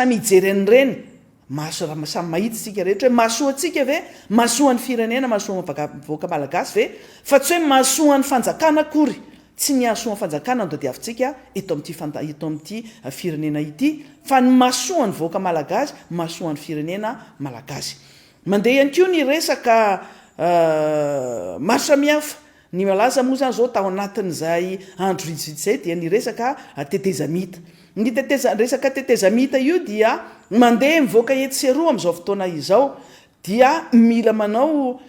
Samy hijery an'ireny maso, samy mahita isika rehetra hoe mahasoa antsika ve? Mahasoa ny firenena, mahasoa ny vahoaka malagasy ve? Fa tsy hoe mahasoa ny fanjakana akory. Tsy ny hahasoa ny fanjakana no tadiavintsika eto amin'ity fanta, eto amin'ity firenena ity, fa ny mahasoa ny vahoaka malagasy, mahasoa ny firenena malagasy. Mandeha ihany koa ny resaka maro samihafa Ny malaza moa izany izao tao anatin'izay andro vitsivitsy izay dia ny resaka tetezamita. Ny teteza, resaka tetezamita io dia mandeha mivoaka etsy sy eroa amin'izao fotoana izao dia mila manao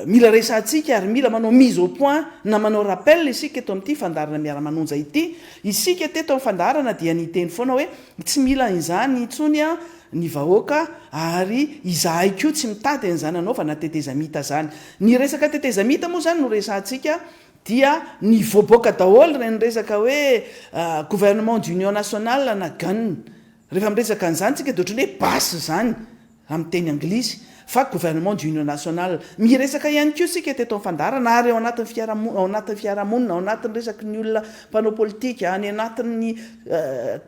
mila resahantsika ary mila manao mise au point na manao rappel isika eto amin'ity fandaharana Miara-manonja ity. Isika teto amin'ny fandaharana dia niteny foana hoe tsy mila an'izany intsony an, ny vahoaka ary izahay koa tsy mitady an'izany anaovana tetezamita zany. Ny resaka tetezamita moa zany no resahantsika dia nivoaboaka daholo ireny resaka hoe gouvernement d'union nationale na gun. Rehefa miresaka an'izany tsika dia ohatran'ny hoe basy izany amin'ny teny anglisy. fa gouvernement d'union nationale. Miresaka ihany koa isika teto amin'ny fandaharana ary ao anatin'ny fiarahamonina, ao anatin'ny fiarahamonina, ao anatin'ny resaky ny olona mpanao politika, any anatin'ny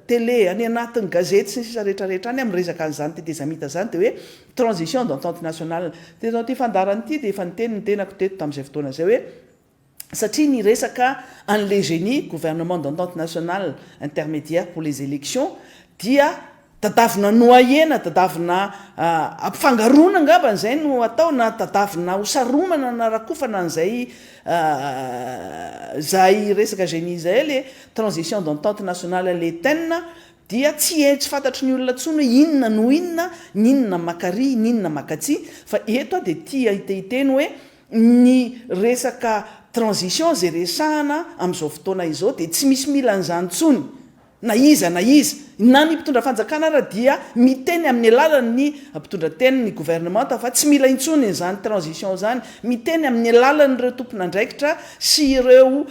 télé, any anatin'ny gazety sy ny sisa rehetra rehetra any amin'ny resaka an'izany tetezamita izany dia hoe transition d'entente nationale. Teto amin'ity fandaharana ity dia efa niteny ny tenako teto tamin'izay fotoana izay hoe, satria niresaka an'le geni, Gouvernement d'entente nationale intermédiaire pour les élections, dia tadavina nohahena, tadavina ampifangaroana angambany izay no atao na tadavina hosaromana na rakofana an'izay izay resaka geni izay le transition d'entente nationale le ten, dia tsy he tsy fantatry ny olona intsony hoe inona no inona, n'inona maka ary, n'inona maka atsy, fa eto aho dia tia hiteny hoe, Ny resaka transition izay resahana amin'izao fotoana izao dia tsy misy mila an'izany intsony na iza na iza. Na ny mpitondra fanjakana ara dia miteny amin'ny alalan'ny mpitondra teny ny gouvernemanta fa tsy mila intsony izany transition izany. Miteny amin'ny alalan'ireo tompon'andraikitra sy ireo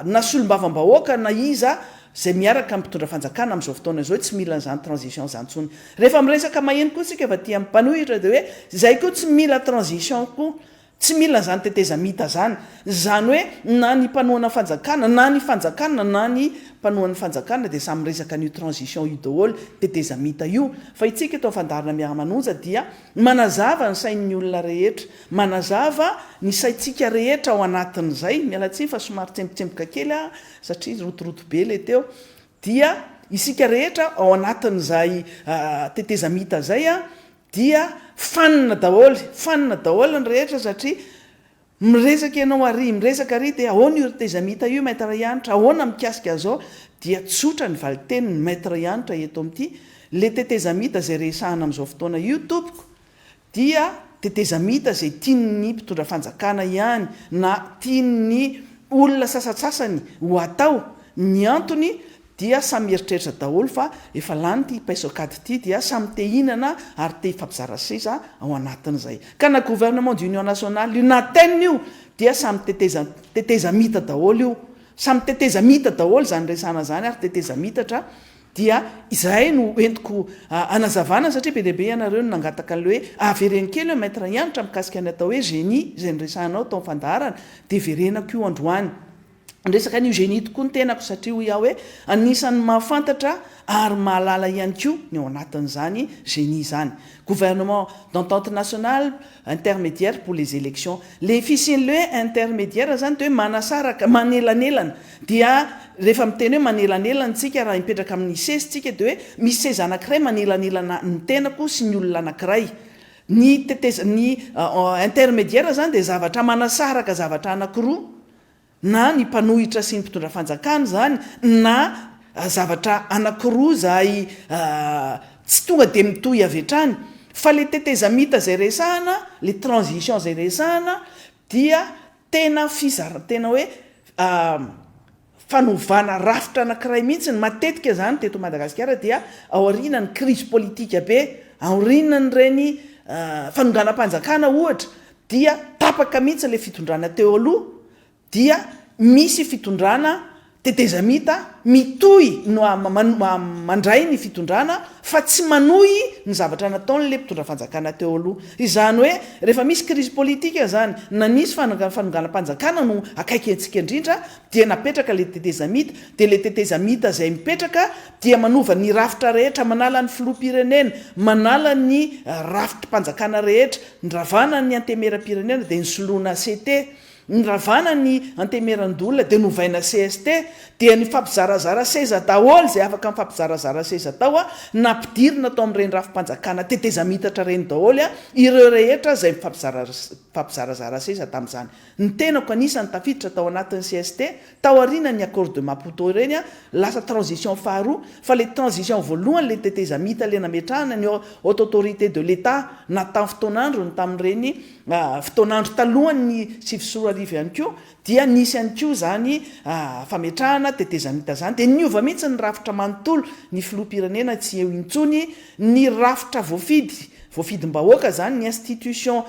na solombavambahoaka na iza Izay miaraka amin'ny mpitondra fanjakana amin'izao fotoana izao tsy mila an'izany transition izany intsony. Rehefa miresaka maheno koa isika avy aty amin'ny mpanohitra dia hoe izay koa tsy mila transition koa. Tsy mila an'izany tetezamita izany. Izany hoe na ny mpanohana fanjakana, na ny fanjakana, na ny mpanohan'ny fanjakana dia samy miresaka an'io transition io daholo, tetezamita io. Fa itsika eto amin'ny Fandaharana Miara-manonja dia manazava ny sain'ny olona rehetra, manazava ny saintsika rehetra ao anatin'izay. Miala tsiny fa somary tsembotsemboka kely aho satria rotoroto be ilay teo, dia isika rehetra ao anatin'izay tetezamita izay dia fanina daholo, fanina daholo ny rehetra satria miresaka ianao ary miresaka ary dia ahoana io tetezamita io Maître Hanitra, ahoana mikasika an'izao, dia tsotra ny valin-tenin'i Maître Hanitra eto amin'ity, ilay tetezamita izay resahana amin'izao fotoana io tompoko dia tetezamita izay tian'ny mpitondra fanjakana ihany na tian'ny olona sasatsasany ho atao, ny antony dia samy mieritreritra daholo fa efa lany ity paiso an-kady ity dia samy te hinana ary te hifampizara seza ao anatin'izay ka na gouvernement d'union nationale io na ten io dia samy teteza tetezamita daholo io samy tetezamita daholo izany resana izany ary tetezamita tra Dia izahay no entiko hanazavana satria be dia be ianareo no nangataka an'ilay hoe avereno kely eo Maître Hanitra mikasika ny atao hoe génie izay noresahanao tao amin'ny fandaharana dia verenako io androany ny resaka an'io génie tokoa ny tenako satria hoy aho hoe anisan'ny mahafantatra ary mahalala ihany koa ny ao anatin'izany génie izany gouvernement d'entente nationale intermédiaire pour les élections, le fisian' le intermédiaire zany dia hoe manasaraka, manelanelana, dia rehefa miteny hoe manelanelana isika raha hipetraka amin' ny seza isika dia hoe misy seza anankiray manelanelana ny tenako sy ny olona anankiray, ny tetezan' ny intermédiaire zany dia zavatra manasaraka zavatra anankiroa, na ny mpanohitra sy ny mpitondra fanjakana izany na zavatra anakiroa izay tsy tonga dia mitohy avy hatrany fa ilay tetezamita izay resahana, ilay transition izay resahana dia tena fizara, tena hoe fanovana rafitra anakiray mihintsy ny matetika izany teto Madagasikara dia aorianan'ny krizy politika be, aorianan'ireny fanonganam-panjakana ohatra dia tapaka mihitsy ilay fitondrana teo aloha dia misy fitondrana tetezamita mitohy mandray ny fitondrana fa tsy manohy ny zavatra nataon'ilay mpitondra fanjakana teo aloha. Izany hoe rehefa misy crise politique izany na nisy fanonganam-panjakana no akaiky antsika indrindra dia napetraka ilay tetezamita dia ilay tetezamita izay mipetraka dia manova ny rafitra rehetra, manala ny filoham-pirenena, manala ny rafitrim-panjakana rehetra, ny ravana ny antemeram-pirenena dia nosoloina ACT, ny ravana ny antemeran-doholona dia novaina cst, dia nifampizarazara seza daholo izay afaka nifampizarazara seza tao an, nampidirina tao amin'ireny rafim-panjakana tetezamitatra ireny daholo an, ireo rehetra izay nifampizarazara seza tamin'izany. Ny tenako anisany tafiditra tao anatin'ny cst taorianan'ny accord de Maputo ireny lasa transition faharoa fa ilay transition voalohany ilay tetezamita ilay nametrahana ny haute autorité de l'Etat na tamin'ny fotoan'androny tamin'ireny fotoan'andro talohan'ny sivy sy roa arivo ihany koa dia nisy ihany koa izany fametrahana tetezamita izany dia niova mihitsy ny rafitra manontolo ny filoham-pirenena tsy eo intsony ny rafitra voafidy voafidim-bahoaka izany ny institution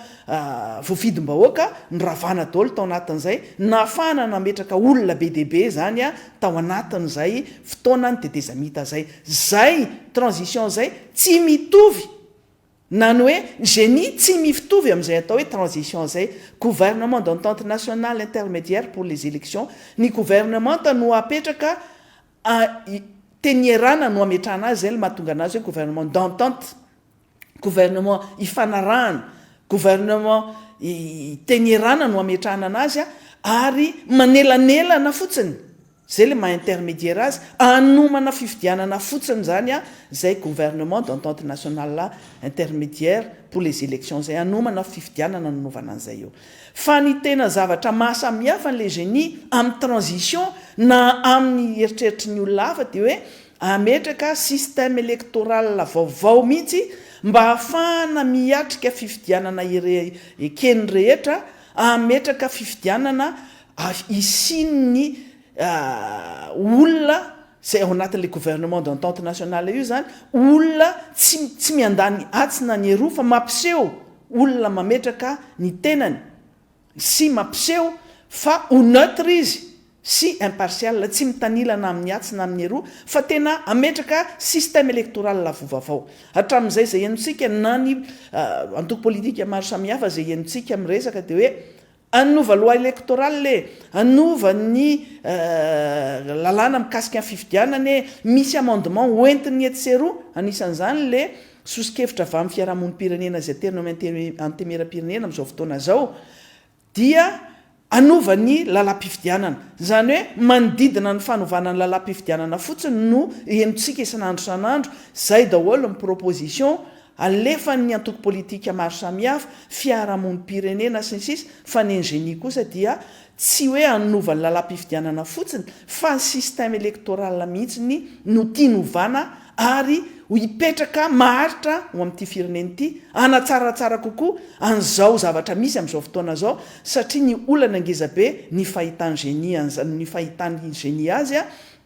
voafidim-bahoaka noravana daholo tao anatin'izay nahafahana nametraka olona be dia be izany tao anatin'izay fotoanan'ny tetezamita izay. Izay transition izay tsy mitovy na ny hoe génie tsy miftovy amin'izay atao hoe transition izay. Gouvernement d'entente nationale intermédiaire pour les élections, ny governemanta no apetraka a, i, tenierana no ametrahana azy izay no mahatonga anazy hoe gouvernement d'entente. gouvernement ifanarahana, gouvernement itenyerana no ametrahana anazy a, ary manelanelana fotsiny, zay le maha intermediaire azy, anomana fifidianana fotsiny zany a, zay gouvernement d'entente nationale intermediaire pour les elections zay, anomana fifidianana nanaovana an'izay eo. Fa ny tena zavatra maha samihafa an'le genie amin'ny transition na amin'ny eritreritry ny olona hafa de hoe Hametraka système électoral vaovao mihitsy mba hahafahana miatrika fifidianana eken'ny rehetra, hametraka fifidianana hisian'ny olona izay ao anatin'ilay gouvernement d'entente nationale io izany, olona tsy tsy miandany atsy na ny eroa fa mampiseho olona mametraka ny tenany. sy mampiseho fa ho neutre izy sy impartial, tsy mitanila na amin'ny atsy na amin'ny eroa, fa tena hametraka système électoral avo vavao. Hatramin'izay izay henontsika na ny antoko politika maro samihafa izay henontsika miresaka dia hoe hanova loi électorale e, hanova ny lalàna mikasika ny fifidianana e, misy amendement hoentiny etsy sy eroa, anisan'izany ilay Soso-kevitra avy amin'ny fiarahamonim-pirenena izay tena eo amin'ny Antenimierampirenena amin'izao fotoana izao dia hanova ny lalam-pifidianana. Izany hoe manodidina ny fanovana ny lalam-pifidianana fotsiny no henontsika isan'andro isan'andro, izay daholo ny proposition alefan'ny antoko politika maro samihafa, fiarahamonim-pirenena sy ny sisa, fa ny Ingenie kosa dia Tsy hoe hanova ny lalam-pifidianana fotsiny fa ny système électoral mihitsiny no tiany hovana ary ho hipetraka maharitra ho amin'ity firenena ity, hanatsaratsara kokoa an'izao zavatra misy amin'izao fotoana izao satria ny olana ngezabe ny fahitan'i Génie an'izany, ny fahitan'i Génie azy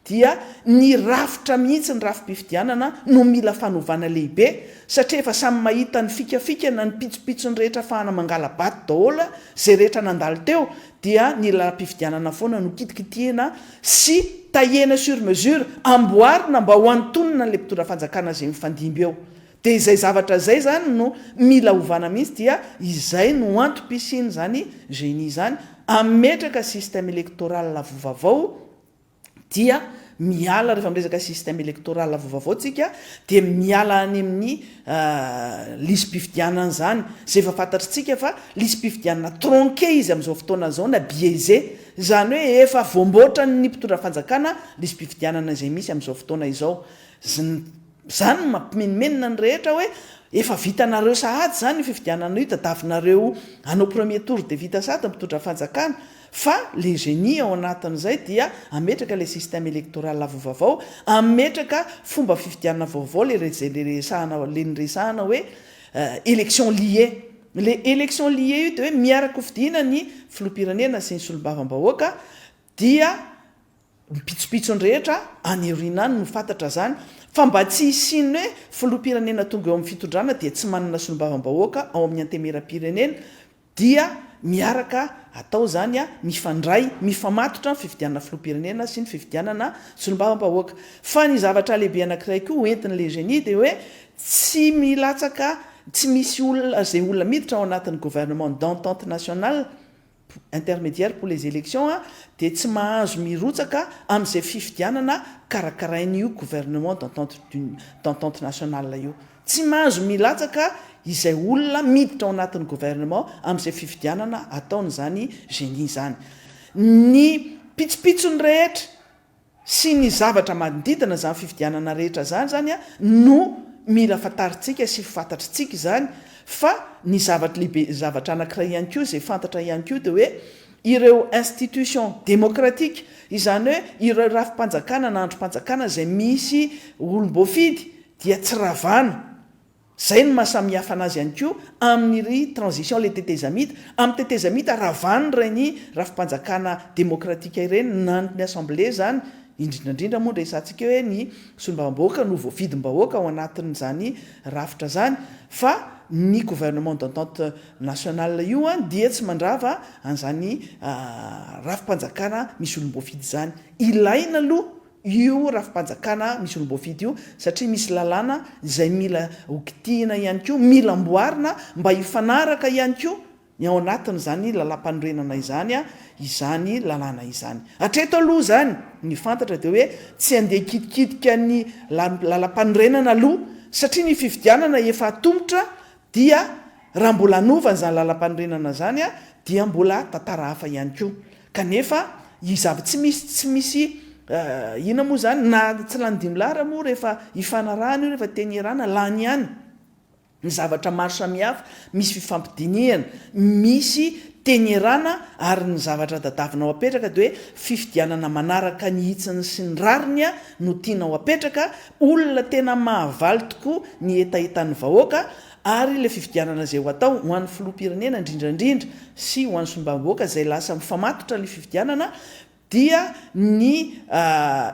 dia ny rafitra mihitsy ny rafi-pifidianana no mila fanovana lehibe satria efa samy mahita ny fikafikana ny pitsopitsony rehetra afahana mangala-bato daholo izay rehetra nandalo teo dia ny lalam-pifidianana foana no kitikitihina sy tahena sur mesure amboarina mba ho antonona an'ilay mpitondra fanjakana izay mifandimby eo dia izay zavatra izay izany no mila ovana mihitsy dia izay no antom-pisian'izany génie izany hametraka système électoral vovavao dia miala rehefa miresaka système électoral vaovao tsika dia miala any amin'ny lisi-pifidianana izany izay efa fantatritsika fa lisi-pifidianana tronqué izy amin'izao fotoana izao na biaisé izany hoe efa voamboatran'ny mpitondra fanjakana lisi-pifidianana izay misy amin'izao fotoana izao. Izany no mampimenomenona ny rehetra hoe efa vitanareo sahady izany io fifidianana io, tadavinareo hanao premier tour dia vita sahady ny mpitondra fanjakana, fa le génie ao anatin'izay dia hametraka le système électoral avo vavao, hametraka fomba fifidianana vaovao le izay le resahana le niresahana hoe élection liée, le élection liée io dia hoe miara-kofidina ny filoham-pirenena sy ny solombavambahoaka dia ny pitsopitsony rehetra any aoriana any no fantatra zany fa mba tsy hisian'ny hoe filoham-pirenena tonga eo amin'ny fitondrana dia tsy manana solombavambahoaka ao amin'ny antemeram-pirenena dia miaraka atao zany a mifandray mifamatotra ny fifidianana filoham-pirenena sy ny fifidianana solombavambahoaka fa ny zavatra lehibe anankiray koa hoentin'ny le genie dia hoe tsy milatsaka tsy misy olona izay olona miditra ao anatin'ny gouvernement d'entente nationale intermédiaire pour les élections dia tsy mahazo mirotsaka amin'izay fifidianana karakarain'io gouvernement d'entente d'entente nationale io. Tsy mahazo milatsaka izay olona miditra ao anatin'ny gouvernement amin'izay fifidianana ataon'izany génie izany. Ny pitsopitsony rehetra. sy ny zavatra manodidina izany fifidianana rehetra izany izany no mila fantarintsika sy fantatritsika izany fa ny zavatra lehibe zavatra anankiray ihany koa izay fantatra ihany koa dia hoe ireo institution demokratika izany hoe ireo rafi-panjakana na andrim-panjakana izay misy olom-boafidy dia tsy ravana Izay no maha samy hafa anazy ihany koa amin'ny ry transition le tetezamita, amin'ny tetezamita ravan'ny rain'ny rafi-panjakana demokratika ireny naniko ny assemblée izany, indrindra indrindra moa ny resahantsika eo hoe ny solombavambahoaka no voavidim-bahoaka ao anatin'izany rafitra izany fa ny gouvernement d'entente nationale io dia tsy mandrava an'izany rafi-panjakana misy olom-boafidy izany. Ilaina aloha io rafi-panjakana misy roa voafidy io satria misy lalàna izay mila ho kitihina ihany koa, mila amboarina mba hifanaraka ihany koa ny ao anatin'izany lalàmpanorenana izany izany lalàna izany. Hatreto aloha izany ny fantatra dia hoe tsy handeha hikitikitika ny lalàmpanorenana aloha satria ny fifidianana efa atomotra Dia raha mbola hanova an'izany lalam-panorenana izany dia mbola tantara hafa ihany koa. Kanefa izy avy tsy misy tsy misy inona moa izany na tsy lany dimy lahy raha moa rehefa hifanarahana io rehefa teny ierana lany ihany ny zavatra maro samihafa misy fifampidinihana misy teny ierana ary ny zavatra tadavinao apetraka dia hoe fifidianana manaraka ny hitsiny sy ny rariny no tianao apetraka Olona tena mahavaly tokoa ny hetahetan'ny vahoaka ary ilay fifidianana izay ho atao ho an'ny filoham-pirenena indrindrandrindra sy ho an'ny solombavambahoaka izay lasa mifamatotra ny fifidianana dia ny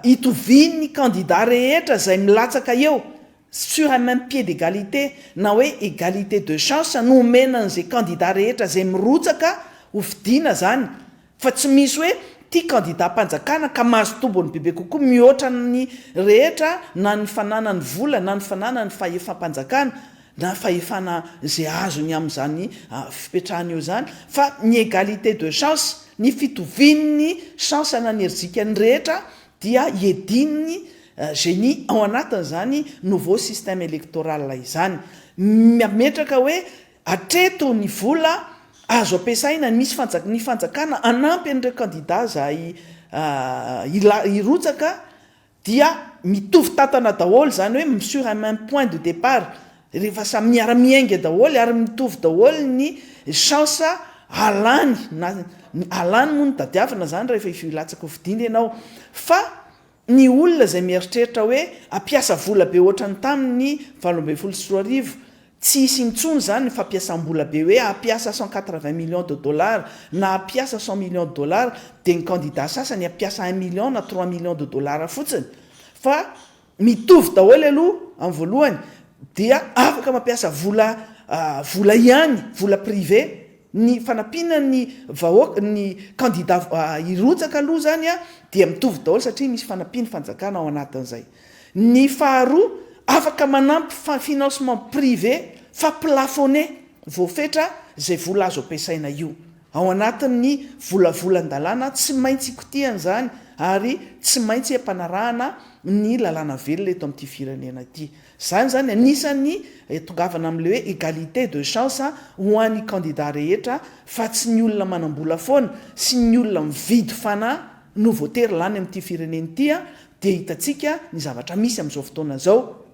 hitovian'ny kandida rehetra izay milatsaka eo sur un même pied d'egalite na hoe egalite de chance no omena an'izay kandida rehetra izay mirotsaka ho fidiana izany Fa tsy misy hoe ity kandidam-panjakana ka mahazo tombony bebe kokoa mihoatra ny rehetra na ny fananany vola na ny fananany fahefam-panjakana na fahefana izay azony amin'izany fipetrahany eo izany fa ny égalité de chance, ny fitovian'ny chance na ny erijikan'ny rehetra dia iedin'ny génie ao anatin'izany nouveau système électoral izany. Mametraka hoe Hatreto ny vola azo ampiasaina nisy fanjak ny fanjakana hanampy an'ireo kandida izay hila hirotsaka dia mitovy tantana daholo izany hoe m sur un même point de départ rehefa samy miara miainga daholo ary mitovy daholo ny chance halany na halany moa no tadiavina izany rehefa hilatsaka ho fidiana ianao fa Ny olona izay mieritreritra hoe hampiasa vola be ohatran'ny tamin'ny valo ambin'ny folo sy roa arivo, tsy hisy intsony izany ny fampiasam-bola be hoe hampiasa cent quatre vingt millions de dollars na hampiasa cent millions de dollars dia ny kandida sasany hampiasa un million na trois millions de dollars fotsiny fa mitovy daholo aloha amin'ny voalohany dia afaka mampiasa vola vola ihany, vola privé. Ny fanampiana ny vahoaka, ny kandida hirotsaka aloha izany dia mitovy daholo satria misy fanampian'ny fanjakana ao anatin'izay. Ny faharoa, afaka manampy financement privé fa plafonné, voafetra izay vola azo ampiasaina io. Ao anatin'ny volavolan-dalàna, tsy maintsy ikotihana izany ary tsy maintsy ampanarahana ny lalàna velona eto amin'ity firenena ity. Izany izany anisan'ny hitongavana amin'ilay hoe égalité de chance ho an'ny kandida rehetra fa tsy ny olona manam-bola foana sy ny olona mividy fanahy no voatery lany amin'ity firenena ity dia hitantsika ny zavatra misy amin'izao fotoana izao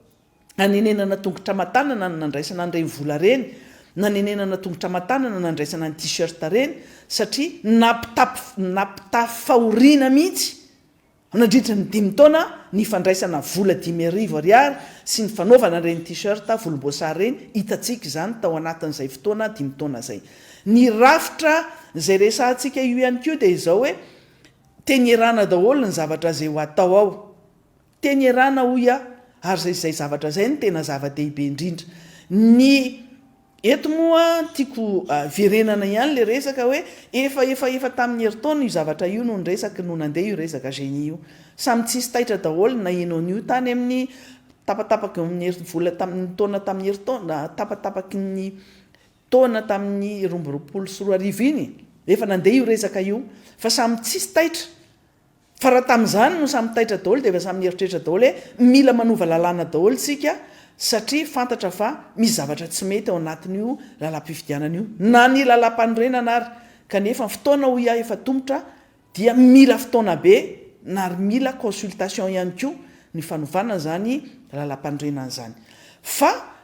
nanenenana tongotra aman-tanana ny nandraisana an'ireny vola ireny nanenenana tongotra aman-tanana nandraisana ny t-shirt ireny satria nampitafy fahoriana mihitsy Nandritra ny dimy taona ny fandraisana vola dimy arivo ariary sy ny fanaovana ireny T-shirt volomboasary ireny, hitantsika izany tao anatin'izay fotoana dimy taona izay. Ny rafitra izay resahantsika io ihany koa dia izao hoe, teny erana daholo ny zavatra izay ho atao ao. Teny erana hoy aho, ary izay zavatra izay no tena zava-dehibe indrindra. Ny. Eto moa tiako verenana ihany le resaka hoe efa efa efa tamin'ny herintaona io zavatra io no niresaky no nandeha io resaka genie io. Samy tsisy taitra daholo na ianao nio tany amin'ny tapatapaky ny herintaona vola tamin'ny taona tamin'ny herintaona tapatapaky ny taona tamin'ny roa amby roapolo sy roa arivo iny efa nandeha io resaka io fa samy tsisy taitra Fa raha tamin'izany no samy taitra daholo dia efa samy nieritreritra daholo hoe mila manova lalàna daholo tsika satria fantatra fa misy zavatra tsy mety ao anatin'io lalam-pifidianana io na ny lalam-panorenana ary kanefa ny fotoana hoy aho efa tomotra dia mila fotoana be na ary mila consultation ihany koa ny fanovana izany lalam-panorenana izany fa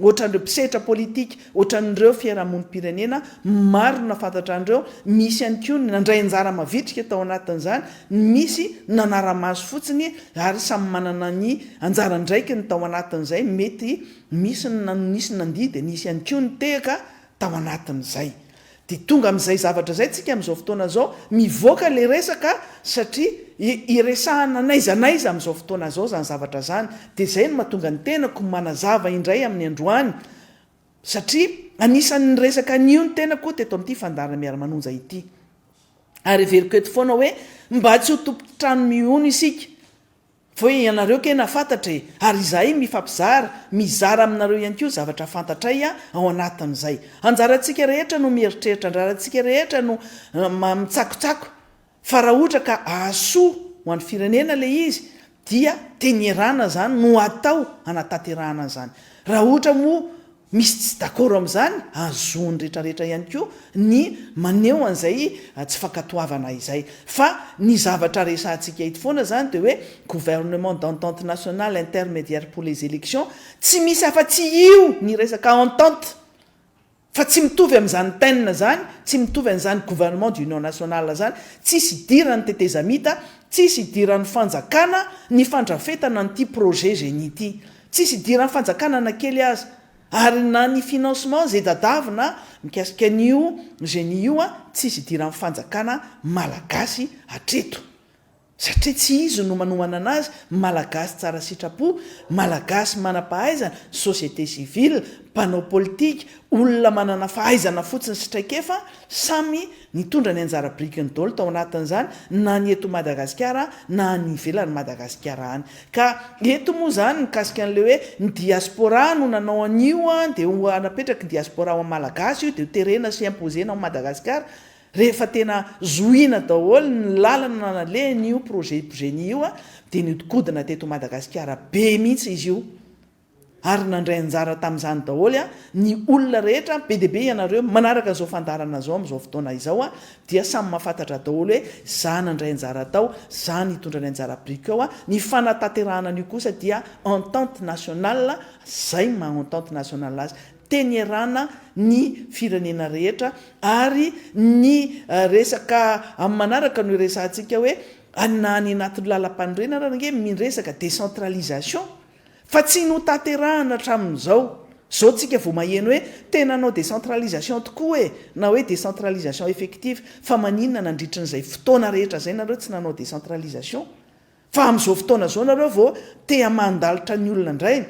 Ohatran'ireo mpisehatra politika, ohatran'ireo fiarahamonim-pirenena maro na fantatra an'ireo, misy ihany koa ny nandray anjara mavitrika tao anatin'izany, ny misy nanara-maso fotsiny ary samy manana ny anjara andraikiny tao anatin'izay, mety misy ny nisy nandihy dia nisy ihany koa ny tehaka tao anatin'izay. Dia tonga amin'izay zavatra izay tsika amin'izao fotoana izao, mivoaka ilay resaka satria iresahana n'aiza n'aiza amin'izao fotoana izao izany zavatra izany, dia izay no mahatonga ny tenako manazava indray amin'ny androany satria anisan'ny niresaka an'io ny tenako teto amin'ity fandaharana Miara-manonja ity. Ary heveriko eto foana hoe mba tsy ho tompon-trano mihono isika. Foy ianareo kena fatatra e! Ary izahay mifampizara, mizara aminareo ihany koa zavatra fantatray ao anatin'izay. Anjarantsika rehetra no mieritreritra, anjarantsika rehetra no mitsakotsako fa raha ohatra ka ahasoa ho an'ny firenena ilay izy dia tenierana izany no atao hanatanterahana an'izany. Raha ohatra moa Misy tsy dakoro amin'izany, azon'ny retraretra ihany koa ny maneho an'izay tsy fankatoavana izay. Fa ny zavatra resahantsika eto foana izany dia hoe gouvernement d'entente nationale intermédiaire pour les élections, tsy misy afa-tsy io ny resaka entente fa tsy mitovy amin'izany ten izany, tsy mitovy an'izany gouvernement d'union nationale izany, tsisy hidiran'ny tetezamita, tsisy hidiran'ny fanjakana ny fandrafetana an'ity projet génie ity. Tsisy hidiran'ny fanjakana na kely aza. Ary na ny financement izay dadavina mikasika an'io Geni io tsisy hidiran'ny fanjakana Malagasy hatreto. Satria tsy izy no manohana anazy, Malagasy tsara sitrapo, Malagasy manam-pahaizana, société civile, mpanao politika, olona manana fahaizana fotsiny sy traikefa samy nitondra ny anjara birikiny daholo tao anatin'izany na ny eto Madagasikara na any ivelan'i Madagasikara any. Ka eto moa izany mikasika an'ilay hoe ny diaspora no nanao an'io dia ho napetraky ny diaspora ho an'ny Malagasy io dia ho terena sy imposer-na ao Madagasikara rehefa tena zohiana daholo ny lalana nanalehan'io projet Bjeni io dia nihodinkodina teto Madagasikara be mihitsy izy io Ary nandray anjara tamin'izany daholo ny olona rehetra, be dia be ianareo manaraka izao fandaharana izao amin'izao fotoana izao dia samy mahafantatra daholo hoe za nandray anjara tao, za nitondra ny anjara biriko ao, ny fanatanterahana an'io kosa dia entente nationale, zay ny maha entente nationale azy, tenerana ny firenena rehetra ary ny resaka amin'ny manaraka no iresahantsika hoe na any anatin'ny lalampanorenana ary ange miresaka décentralisation, Fa tsy notanterahana hatramin'izao. Izao tsika vao maheno hoe tena hanao décentralisation tokoa e! Na hoe décentralisation effective. Fa maninona nandritrin'izay fotoana rehetra izay nareo tsy nanao décentralisation? Fa amin'izao fotoana izao nareo vao te hamandalitra ny olona indray?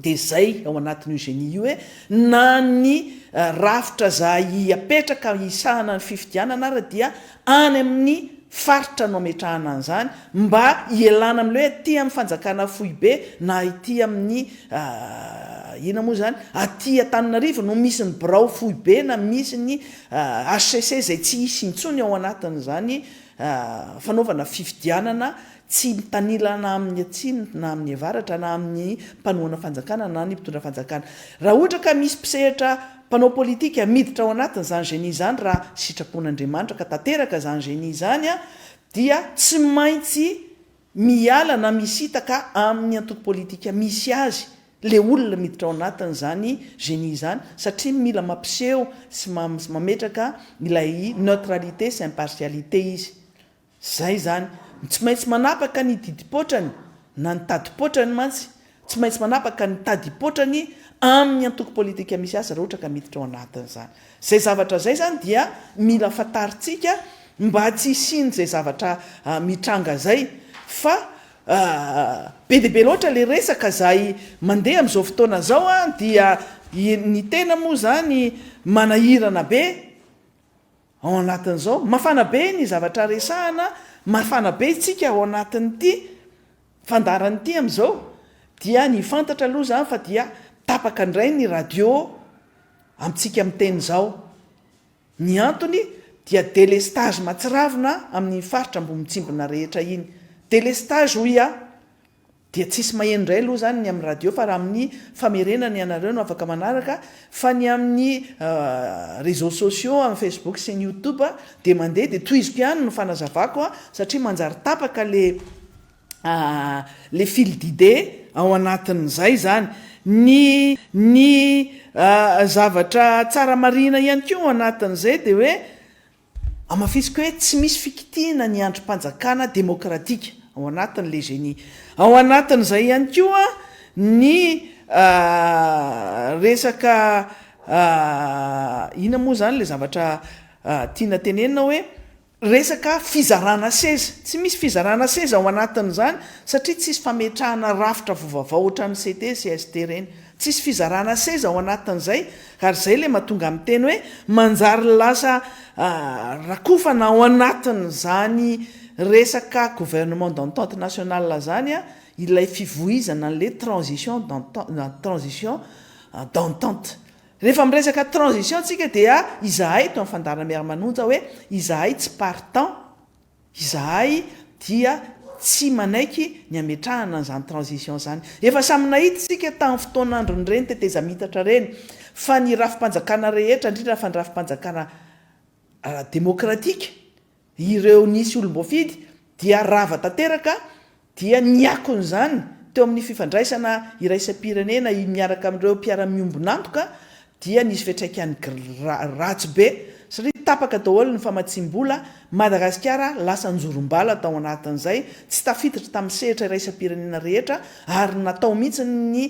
Dia izay ao anatin'io génie io hoe na ny rafitra za hiapetraka hisahana ny fifidianana ary dia any amin'ny faritra no ametrahana an'izany mba hialana amin'ilay hoe aty amin'ny fanjakana foibe na aty amin'ny inona moa izany, aty Antananarivo no misy ny birao foibe na misy ny HCC izay tsy hisy intsony ao anatin'izany fanaovana fifidianana Tsy mitanila na amin'ny atsimo na amin'ny avaratra na amin'ny mpanohana fanjakana na ny mpitondra fanjakana. Raha ohatra ka misy mpisehatra mpanao politika miditra ao anatiny izany génie izany raha sitrapon'Andriamanitra ka tanteraka izany génie izany dia tsy maintsy miala na misitaka amin'ny antoko politika misy azy le olona miditra ao anatiny izany génie izany satria mila mampiseho sy mametraka ilay neutralité sy impartialité izy. Izay izany. Tsy maintsy manapaka ny didim-poatrany na ny tadim-poatrany mantsy. Tsy maintsy manapaka ny tadim-poatrany amin'ny antoko politika misy azy raha ohatra ka miditra ao anatin'izany. Izay zavatra izay izany dia mila fantarintsika mba tsy hisian'izay zavatra mitranga izay fa be dia be loatra ilay resaka izay mandeha amin'izao fotoana izao dia ny tena moa izany manahirana be. Ao anatin'izao, mafana be ny zavatra resahana, mafana be isika ao anatin'ity fandaharana ity amin'izao, dia ny fantatra aloha izany fa dia tapaka indray ny radio amintsika miteny izao. Ny antony dia délestage mahatsiravina amin'ny faritra Ambohimitsimbina rehetra iny. Délestage hoy aho. Dia tsisy maheno indray aloha izany ny amin'ny radio fa raha amin'ny famerenana ianareo no afaka manaraka fa ny amin'ny réseaux sociaux amin'ny facebook sy ny youtube dia mandeha dia tohiziko ihany ny fanazavako satria manjary tapaka le le fil d'idée ao anatin'izay izany. Ny ny zavatra tsara marihina ihany koa ao anatin'izay dia hoe Hamafisiko hoe tsy misy fikitihana ny andrim-panjakana demokratika, ao anatin'ilay Geni. Ao anatin'izay ihany koa ny resaka inona moa izany ilay zavatra tiana tenenina hoe resaka fizarana seza. Tsy misy fizarana seza ao anatin'izany satria tsisy fametrahana rafitra vaovao ohatran'ny CT sy ST ireny. Tsisy fizarana seza ao anatin'izay ary zay le matonga miteny hoe manjary lasa rakofana ao anatin'izany resaka gouvernement d'entente nationale zany ilay fivoizana an'le transition d'entente transition d'entente. Rehefa miresaka transition tsika dia izahay eto amin'ny Fandaharana Miara-manonja hoe izahay tsy partant, Izahay dia tsy manaiky ny hametrahana an'izany transition izany. Efa samy nahita isika tamin'ny fotoan'andron'ireny tetezamintatra ireny fa ny rafi-panjakana rehetra, indrindra fa ny rafi-panjakana ara-demokratika, ireo nisy olom-boafidy dia rava tanteraka dia ny akon'izany teo amin'ny fifandraisana iraisam-pirenena i miaraka amin'ireo mpiara-miombon'antoka dia nisy fiantraikany ratsy be satria tapaka daholo ny famatsiam-bola, Madagasikara lasa anjorom-bala tao anatin'izay, tsy tafiditra tamin'ny sehatra iraisam-pirenena rehetra ary natao mihitsy ny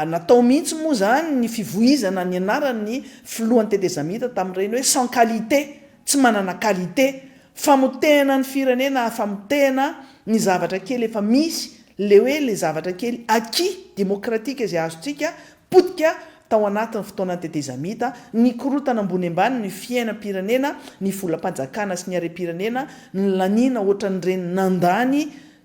natao mihitsy moa izany ny fivoizana ny anaran'ny filohan'ny tetezamita tamin'ireny hoe sans qualité, tsy manana qualité. Famotehana ny firenena ah famotehana ny zavatra kely efa misy le hoe le zavatra kely acquis demokratika izay azontsika potika tao anatin'ny fotoana tetezamita nikorotana ambony ambany ny fiainam-pirenena ny volam-panjakana sy ny harem-pirenena ny laniana ohatran'ireny nandany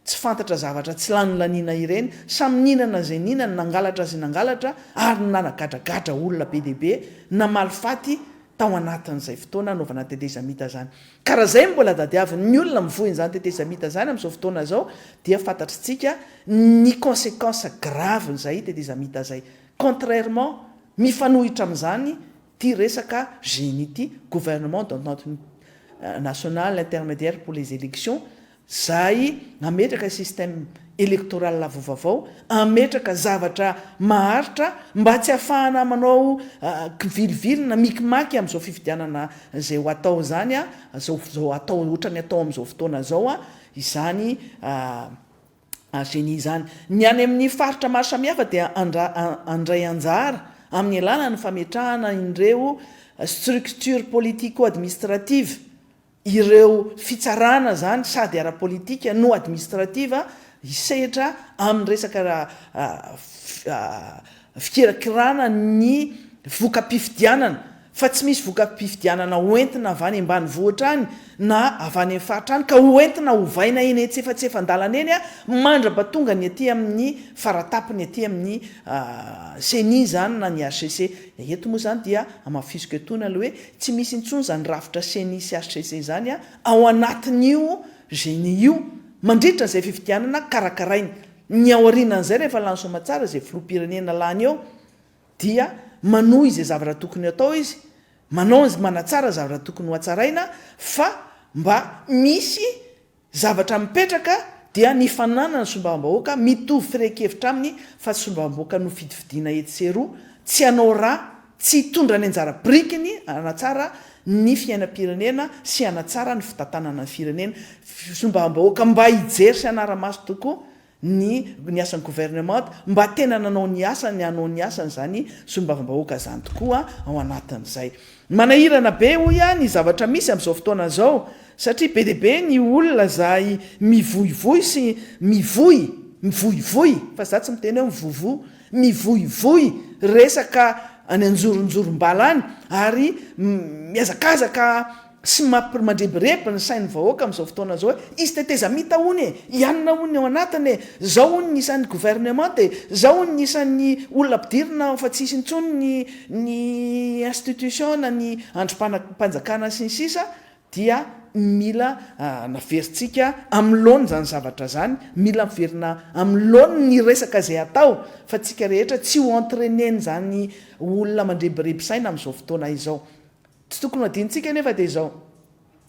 tsy fantatra zavatra tsy lany laniana ireny samy nihinana izay nihinana nangalatra izay nangalatra ary ny nanagadragadra olona be dia be namaly faty tao anatin'izay fotoana anaovana tetezamita izany. Ka raha izay no mbola tadiavin'ny olona mivoy an'izany tetezamita izany amin'izao fotoana izao dia fantatr'tsika ny consequences graves-n'izay tetezamita izay. Contrairement, mifanohitra amin'izany ity resaka génie ity, Gouvernement d'entente nationale intermédiaire pour les élections, Zay nametraka système électoral avo vavao ametraka zavatra maharitra mba tsy afahana manao kivilivily na mikimaky amzao fifidianana zay ho atao zany a zao zao atao otrany atao amzao fotoana zao a izany a génie izany ny any aminy faritra maro samihafa dia andra andray anjara aminy alalany fametrahana inreo structure politico administrative ireo fitsarana izany sady ara-politika no administrative hisehatra amin'ny resaka fikirakirana ny voka-pifidianana fa tsy misy voka-pifidianana hoentina avy any ambanivohitra any na avy any amin'ny faritra any ka hoentina ovaina eny antsefatsefan-dalana eny mandra-pahatonga ny aty amin'ny faratapony aty amin'ny ceni izany na ny hcc. Eto moa izany dia hamafisiko etoana aloha hoe Tsy misy intsony zany rafitra ceni sy HCC zany a ao anatin'io genie io mandritra izay fifidianana karakarainy. Ny aorianan'izay rehefa lany soamatsara izay filoham-pirenena lany eo dia manohy izay zavatra tokony hatao izy, manao, manatsara zavatra tokony ho hatsaraina fa mba misy Zavatra mipetraka dia ny fananany sombambahoaka mitovy firehan-kevitra aminy fa tsy sombamboaka nofidifidiana etsy sy eroa, tsy hanao ra, tsy hitondra ny anjara birikiny hanatsara ny fiainam-pirenena sy hanatsara ny fitantanana ny firenena, sombambahoaka mba hijery sy hanara-maso tokoa ny ny asan'ny gouvernemanta mba tena nanao ny asany hanao ny asany izany solombavambahoaka izany tokoa ao anatin'izay. Manahirana be hoy aho ny zavatra misy amin'izao fotoana izao satria be dia be ny olona izay mivoivoy sy mivoy mivoivoy fa za tsy miteny hoe mivovo mivoivoy resaka any anjoronjorom-bala any ary mihazakazaka Tsy mapr mandrebireby ny sain'ny vahoaka amin'izao fotoana izao hoe izy tetezamita hono e, i anona hono ny ao anatiny e, zao hono ny isan'ny gouvernement e, zao hono ny isan'ny olona ampidirina ao fa tsy hisy intsony ny ny institution na ny andrimpanjakana sy ny sisa dia mila naverintsika amin'ny laoniny izany zavatra izany, mila miverina amin'ny laoniny ny resaka izay atao fa tsika rehetra tsy ho entrainer-n'izany olona mandrebireby saina amin'izao fotoana izao. Tsy tokony ho adinontsika anefa dia izao,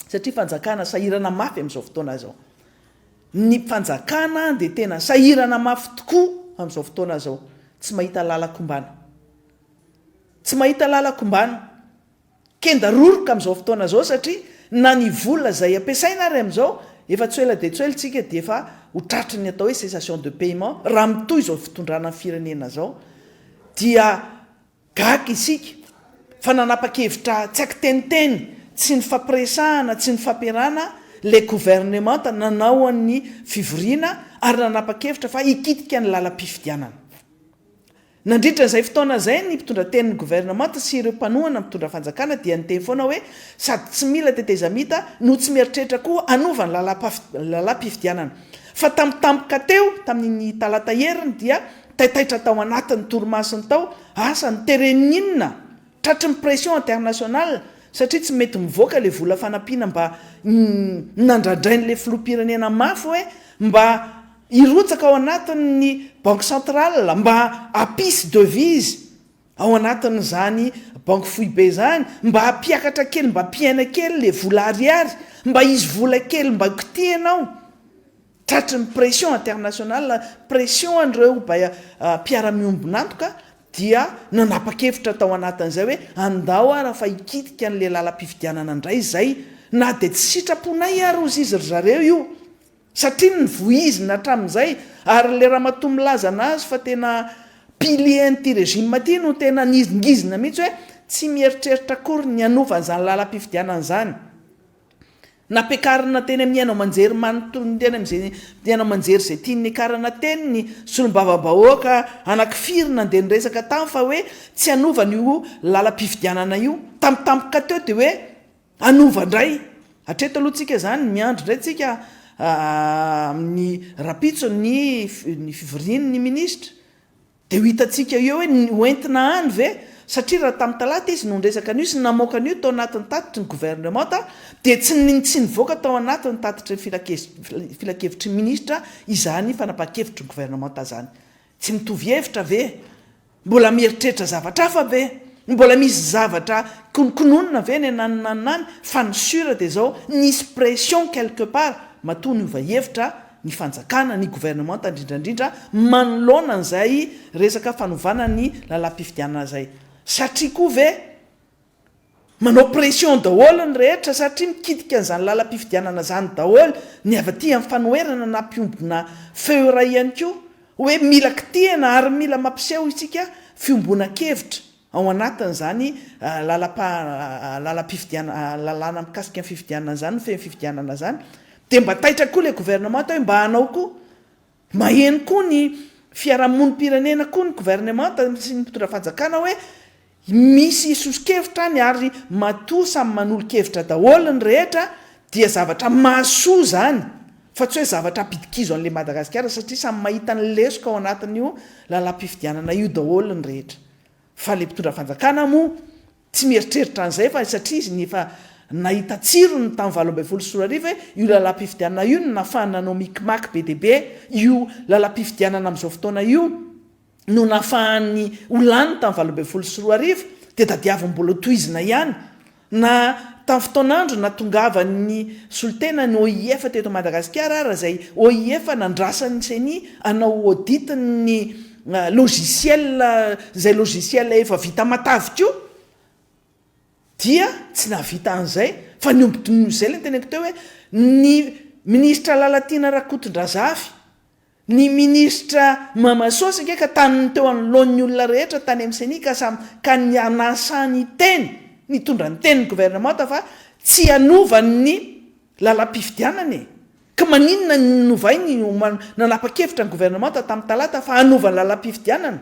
satria fanjakana sahirana mafy amin'izao fotoana izao. Ny fanjakana dia tena sahirana mafy tokoa amin'izao fotoana izao. Tsy mahita lalan-kombana. Tsy mahita lalan-kombana. Kenda roroka amin'izao fotoana izao satria na ny vola izay ampiasaina ary amin'izao, efa tsy ho ela dia tsy ho ela isika dia efa ho tratry ny atao hoe cessation de paiement, raha mitohy izao fitondrana ny firenena izao, dia Gaga isika fa nanapa-kevitra tsy ankiteniteny, tsy nifampiresahana, tsy nifampiarahana ilay governemanta nanao an'ny fivoriana ary nanapa-kevitra fa hikitika ny lalam-pifidianana. Nandritra izay fotoana izay ny mpitondratenin'ny governemanta sy ireo mpanohana ny mpitondra fanjakana dia niteny foana hoe sady tsy mila tetezamita no tsy mieritreritra koa hanova ny lalam-pifidianana. Fa tampotampoka teo tamin'iny talata heriny dia Taitaitra tao anatin ny torimasony tao asa ny terrain inona? Tratry ny pression international satria tsy mety mivoaka le vola fanampiana mba nandradrain le filoha pirenena mafy hoe mba hirotsaka ao anatin ny banque centrale mba hampisy devise ao anatin izany banque foibe zany mba hampiakatra kely mba hampiaina kely le vola ariary mba hisy vola kely mba kotihina ao Tratry ny pression international, pression an'ireo baya mpiara-miombon'antoka dia nanapa-kevitra tao anatin'izay hoe andao ara fa hikitika an'ilay lalam-pifidianana indray izay na dia tsy sitraponay ary ozy izy ry zareo io satria nivoizina hatramin'izay ary ilay ramatoa milaza an'azy fa tena pilier an'ity regime ity no tena nizingizina mihitsy hoe tsy mieritreritra akory ny hanova an'izany lalam-pifidianana izany. Nampiakarina teny amin'ny haino aman-jery manontolo teny amin'izay haino aman-jery izay tiany niakarana teny ny solombavambahoaka anankifiry nandeha niresaka tany fa hoe tsy hanova an'io lalam-pifidianana io. Tamin'ny tampoka teo dia hoe hanova indray. Hatreto aloha tsika izany, miandry indray tsika amin'ny rahampitso ny ny fivorian'ny minisitra. Dia ho hitantsika eo hoe ny hoentina any ve, satria raha tamin'ny talata izy no niresaka an'io sy ny namoaka an'io tao anatin'ny tatitry ny governemanta dia tsy tsy nivoaka tao anatin'ny tatitry ny filakevitry ny minisitra izany fanapahan-kevitry ny governemanta izany. Tsy mitovy hevitra ve? Mbola mieritreritra zavatra hafa ve? Mbola misy zavatra konokononina ve any na any na any fa ny sur dia izao nisy pression quelque part matoa niova hevitra ny fanjakana, ny governemanta indrindra indrindra manoloana an'izay resaka fanovana ny lalam-pifidianana izay. Satria koa ve manao pression daholo ny rehetra satria mikitika an'izany lalam-pifidianana izany daholo ny avy aty amin'ny fanoherana na mpiombona feo iray ihany koa hoe mila kitihina ary mila mampiseho isika fiombonan-kevitra. Ao anatin'izany lalàna mikasika ny fifidianana izany, mifehy ny fifidianana izany, dia mba taitra koa ilay governemanta hoe mba hanao koa, maheno koa ny fiarahamonim-pirenena koa ny governemanta sy ny mpitondra fanjakana hoe misy soso-kevitra any ary matoa samy manolo-kevitra daholo ny rehetra dia zavatra mahasoa izany. Fa tsy hoe zavatra hampidi-kizo an'ilay Madagasikara satria samy mahita ny lesoka ao anatin'io lalam-pifidianana io daholo ny rehetra. Fa ilay mpitondra fanjakana moa tsy mieritreritra an'izay fa satria izy efa nahita tsirony tamin'ny valo ambin'ny folo sy roa arivo hoe io lalam-pifidianana io no nahafahany nanao mikimaky be dia be io lalam-pifidianana amin'izao fotoana io. no nafahan'ny ho lany tamin'ny valo ambin'ny folo sy roa arivo dia tadiaviny mbola tohizina ihany na tamin'ny fotoan'andro natongavan'ny solontena ny OIF teto Madagasikara ara izay OIF nandrasan'ny ceni hanao audit ny logiciel izay logiciel efa vita matavy koa dia tsy nahavita an'izay fa ny omby dinono izay ilay ny teneniko teo hoe ny minisitra Lalatiana Rakotondrazafy Ny minisitra Mama Sôsy ange ka taniny teo anoloan'ny olona rehetra tany amin'ny Ceni ka samy ka nianasa niteny nitondra ny tenin'ny governemanta fa tsy hanova ny lalam-pifidianana e! Ka maninona ny novainy ho manapa-kevitra ny governemanta tamin'ny talata fa hanova ny lalam-pifidianana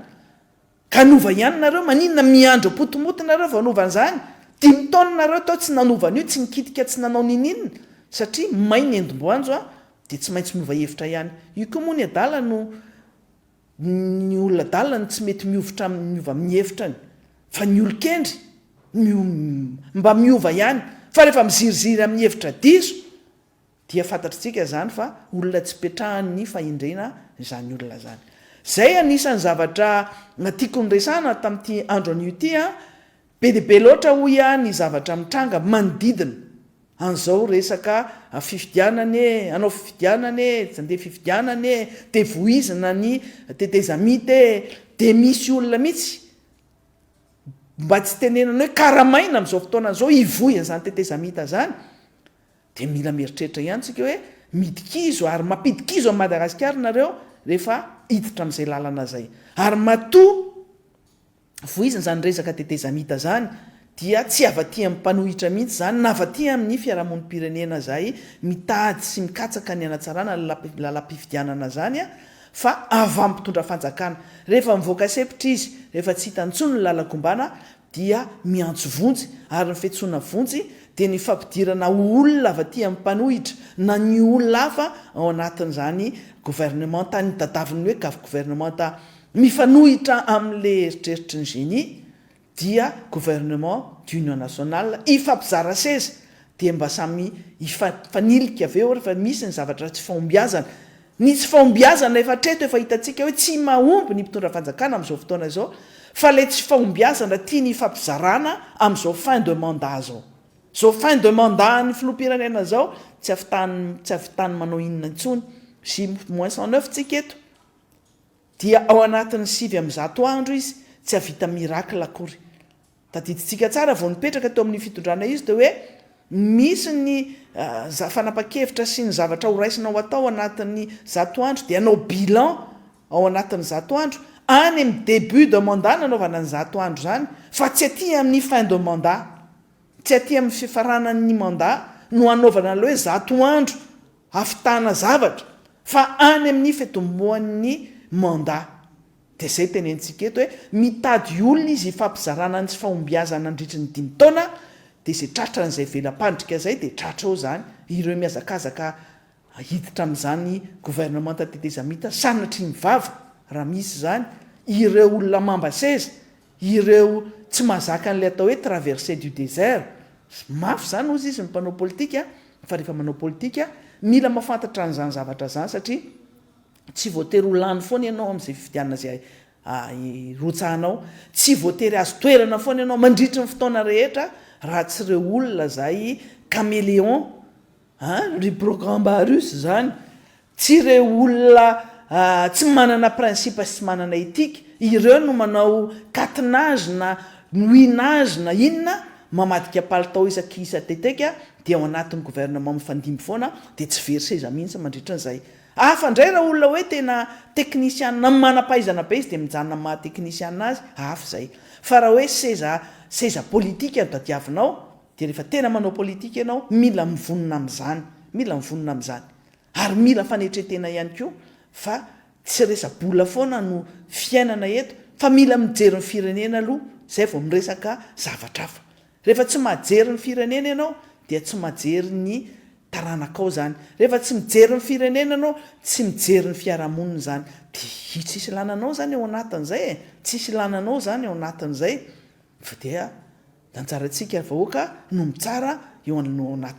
Ka hanova ihany nareo, maninona miandry apotomoty nareo vao hanova an'izany? Dimy taona nareo tao tsy nanova an'io, tsy nikitika tsy nanao nininon, satria may ny endim-boanjo an, dia tsy maintsy miova hevitra ihany. Io koa moa ny adala no ny olona adala no tsy mety miovitra aminy miova amin'ny hevitrany, fa ny olon-kendry no mba miova ihany, fa rehefa miziriziry amin'ny hevitra diso Dia fantatritsika izany fa olona tsy petrahan'ny fahendrena izany olona izany. Izay anisan'ny zavatra tiako noresahana tamin'ity andro anio ity an! Be dia be loatra hoy aho ny zavatra mitranga manodidina an'izao resaka fifidianana anie, hanao fifidianana anie, tsy handeha fifidianana anie, dia vohizina ny tetezamita e! Dia misy olona mihitsy mba tsy tenenana hoe karamaina amin'izao fotoana izao hivoy an'izany tetezamita izany Dia mila mieritreritra ihany tsika hoe midikizo ary mampidikizo an'i Madagasikara nareo rehefa hiditra amin'izay lalana izay. Ary matoa voizina izany resaka tetezamita izany dia tsy avatian'ny mpanohitra mihitsy izany na avatia amin'ny fiarahamonim-pirenena izay mitady sy mikatsaka ny hanatsarana ny lalam-pifidianana izany fa avy amin'ny mpitondra fanjakana. Rehefa mivoaka sepotra izy, rehefa tsy hita intsony ny lalan-kombana, dia miantso vonjy, ary ny fiantsoana vonjy dia ny fampidirana ho olona avy aty amin'ny mpanohitra na ny olona hafa ao anatin'izany gouvernementa any, tadaviny ny hoe gaf gouvernementa mifanohitra amin'ilay eritreritry ny geni dia gouvernement d'union nationale hifampizara seza dia mba samy hifanilika avy eo rehefa misy ny zavatra tsy fahombiazana. Ny tsy fahombiazana efa hatreto efa hitantsika hoe tsy mahomby ny mpitondra fanjakana amin'izao fotoana izao fa ilay tsy fahombiazana tiany hifampizarana amin'izao fin de mandat izao. Izao fin de mandat an'ny filoham-pirenena izao tsy avitan tsy avitan'ny manao inona intsony. J moins cent neuf tsika eto dia ao anatin'ny sivy amby zato andro izy tsy hahavita miracle akory. Tadidintsika tsara vao nipetraka teo amin'ny fitondrana izy teo hoe misy ny fanapa-kevitra sy ny zavatra horaisinao atao anatin'ny zato andro dia hanao bilan ao anatin'ny zato andro, any amin'ny début de mandat nanaovana ny zato andro izany fa tsy aty amin'ny fin de mandat, tsy aty amin'ny fifaranan'ny mandat no hanaovana an'ilay hoe zato andro hafitana zavatra fa any amin'ny fitomboan'ny mandat. Dia zay tenentsika eto hoe mitady olona izy hifampizarana ny tsy fahombiazany nandritry ny dimy taona dia zay tratran'izay vela-pandrika izay dia tratra eo izany, ireo mihazakazaka hiditra amin'izany gouvernemanta tetezamita sanatria ny vava raha misy izany, ireo olona mamba seza, ireo tsy mahazaka an'ilay atao hoe traversee du désert, mafy izany hozy izy ny mpanao politika fa rehefa manao politika mila mahafantatra an'izany zavatra izany satria Tsy voatery ho lany foana ianao amin'izay fifidianana izay irotsahanao. Tsy voatery hahazo toerana foana ianao mandritry ny fotoana rehetra raha tsy ireo olona izay caméléon an! Ry Brocambarus izany, tsy ireo olona tsy manana principe sy tsy manana éthique, ireo no manao catenage na nouinage na inona, mamadika palitao isaky isa teteka dia ao anatin'ny gouvernement mifandimby foana dia tsy very seza mihitsy mandritry ny izay Hafa indray raha olona hoe tena technician na manam-pahaizana be izy dia mijanona amin'ny maha technician azy, hafa izay. Fa raha hoe seza seza politika no tadiavinao dia rehefa tena manao politika ianao mila mivonona amin'izany, mila mivonona amin'izany. Ary mila fanetren-tena ihany koa fa tsy resa-bola foana no fiainana eto fa mila mijery ny firenena aloha izay vao miresaka zavatra hafa. Rehefa tsy majery ny firenena ianao dia tsy majery ny taranakao izany. Rehefa tsy mijery ny firenena ianao, tsy mijery ny fiarahamonina izany. Dia tsisy ilana anao izany ao anatin'izay e! Tsisy ilana anao izany ao anatin'izay fa dia ny anjarantsika vahoaka no mitsara eo anatin'izay.